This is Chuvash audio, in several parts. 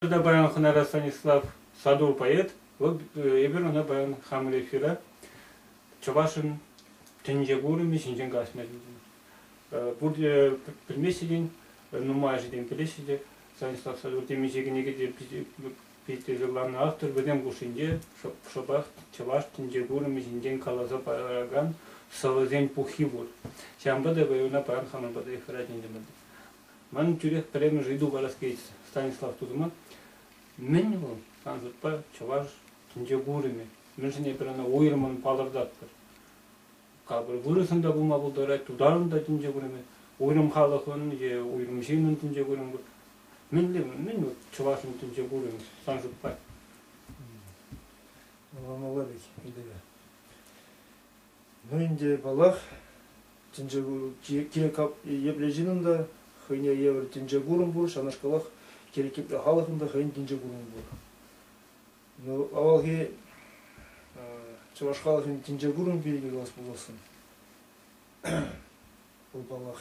Туда паян хӑнара Станислав Саду поэт. Вӑл эпир ӑна паян хамӑр эфира чӑвашӑн тӗнче курӑмӗ ҫинчен калаҫма тытӑннӑ. Пурте пӗлмеҫҫӗ те, нумайӑшӗ те пӗлеҫҫӗ те Станислав Садур темиҫе кӗнеке те Фестивалланӑ автор вӗсем хушшинче шӑпах чӑваш тӗнче курӑмӗ ҫинчен каласа паракан сӑвӑсен пуххи пур. Ҫавӑнпа та района паран хамӑн пата эфира ҫитӗмӗр. Ман тӳрех пӗрремӗш ыйту парас килет, Станислав тусӑма. Мӗн вӑл, сан шутпа, чӑваш тӗнче курӑмӗ? Мӗншӗн эпир ӑна уйрӑммӑн палӑртатпӑр? Капӑр вырӑсӑн та пулма пултарать, тутарӑн та тӗнче курӑмӗ, уйрӑм халӑхӑн е уйрӑм ҫыннӑн тӗнче курӑмӗ пур. Мӗнле, мӗн вот чӑвашӑн тӗнче курӑн, сан шутпа? Валерич Андреевич, ну ӗнтӗ паллах, тӗнче кирек епле ҫынӑн та хӑйне евӗр тӗнче курӑм пур, ҫавнашкалах кирек епле халӑхӑн та хӑйӗн тӗнче курӑмӗ пур. Ну, авалхи чӑваш халӑхӗн тӗнче курӑм пирки калас пуласшӑн. Вӑл, паллах,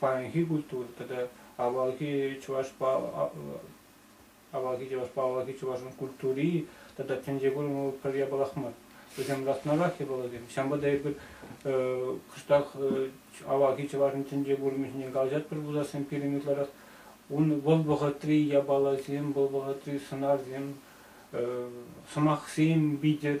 паянхи культура тата авалхи чӑвашпа авалхи чӑвашпа авалхи чӑвашӑн культури тата тӗнче курӑмлӑ пӗр япалах мар. Вӗсем ласнарах япаласем. Ҫавӑнпа та эпир кӑштах авалхи чӑвашӑн тӗнче курӑмӗ ҫине калаҫатпӑр пулассин пирӗн ытларах. Ун вӑл вӑхӑтри япаласем, вӑл вӑхӑтри сӑнарсем, сӑмахсем витӗр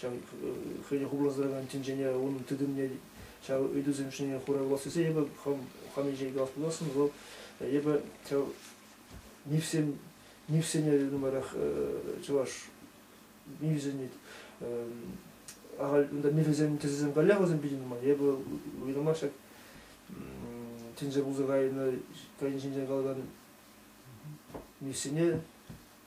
ҫав хӑйне хупласа тӑракан тӗнчене унӑн тытӑмне ҫав ыйтусем ҫине хура кулас тесе эпӗ хам хам ҫинчен калас пуласшӑн вӑл эпӗ ҫав мифсем мифсене нумайрах чӑваш мифсенет ахаль унта мифӗсем тӗсӗсем каллех вӗсем питӗ нумай эпӗ уйрӑмах ҫак тӗнче пулса кайнӑ кайнӑ ҫинчен калакан мифсене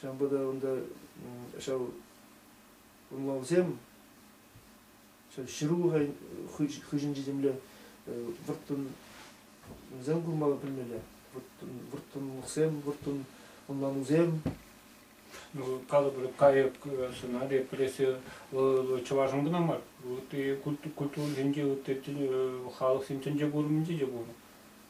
Ҫавӑнпа та унта ҫав ӑнлавсем ҫырулӑха хыҫӗнчи темле вӑрттӑнсем курмалла пӗлмелле вӑрттӑнлӑхсем вӑрттӑн ӑнланусем ну, калӑпӑр кайӑк сӑна репрессия вӑл чӑвашӑн кӑна мар ытти культуринче ытти халӑхсен тӗнче курӑмӗнче те пур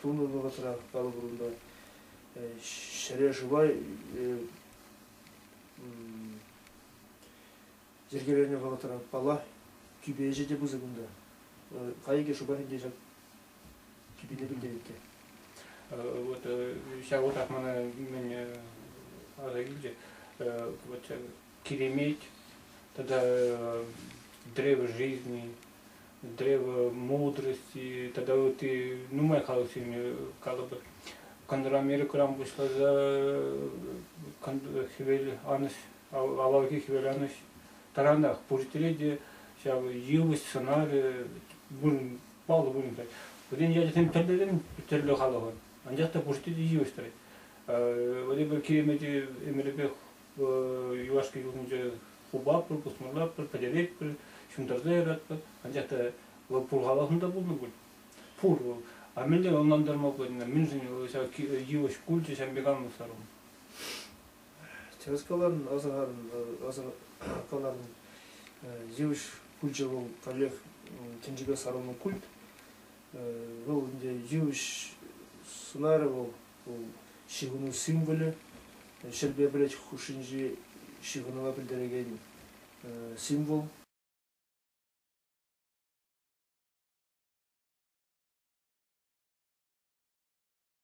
тунӑ вӑхӑтрах палӑкрунпа ҫӗре шыва йӗркеленӗ вӑхӑтра пала тӳпе ӗҫӗ те пысӑк унта. Кайӑкӗ шӑпах ӗнтӗ ҫак тӳпене пӗлтерет те. Вот ҫав утах мана мӗн аса килчӗ. Вот Киреметь тата древо жизни, древо, мудрости тата ытти нумай халӑхсене калӑпӑр. Контр Америкӑран пуҫласа хӗвел анӑҫ, авалхи хӗвел анӑҫ таранах пурте те ҫав йывӑҫ сӑнарӗ вырӑн, паллӑ вырӑн. Вӗсен ячӗсем тӗрлӗрен тӗрлӗ халӑхӑн, анчах та пурте те йывӑҫ тӑрать. Владимир Киремети ӗмӗрӗпех юлашки ҫулсенче хупатпӑр, пусмӑрлатпӑр, пӗтеретпӗр, ҫунтарса яратпӑр. Анчах та вӑл пур халӑхӑн та пулнӑ пуль. Пур вӑл. А мӗнле ӑнлантарма пулать мӗншӗн ҫав йывӑҫ пулчӗ ҫав меганлӑ сару? Тӗрӗс каланӑ, асӑрханӑ. Йывӑҫ пулчӗ вӑл каллех тӗнчеке сарӑннӑ культ. Вӑл ӗнтӗ йывӑҫ сӑнарӗ вӑл, вӑл ҫыхӑну символӗ, ҫӗрпе пӗлӗт хушшинчи ҫыхӑнӑва пӗлтерекен символ.